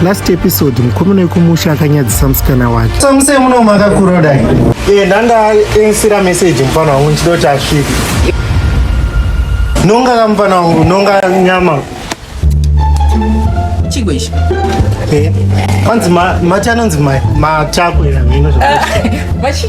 last episode mukomana wekumusha akanyadzisa musikana wake samusei muno makakura dai e eh, ndandaensira message mufana wangu ndichida kuti asvike nonga ka mufana wangu nonga nyama chigwe ichi eh, kwanzi mati anonzi machakwe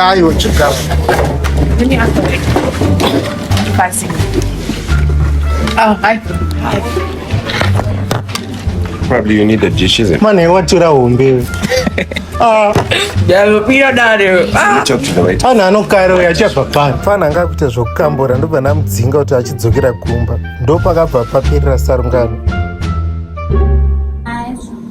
Aiwa, chigaro. Oh, hi. Hi. Probably you need the dish, isn't it? Man, I want to that one, baby. Ah. Yeah, we are not there. Ah. Talk to the waiter. Ana ah, anokaira uya achapa pano. Fana anga kuita zvokukambora ndobva namudzinga kuti achidzokera kumba. Ndopakabva paperera sarungano.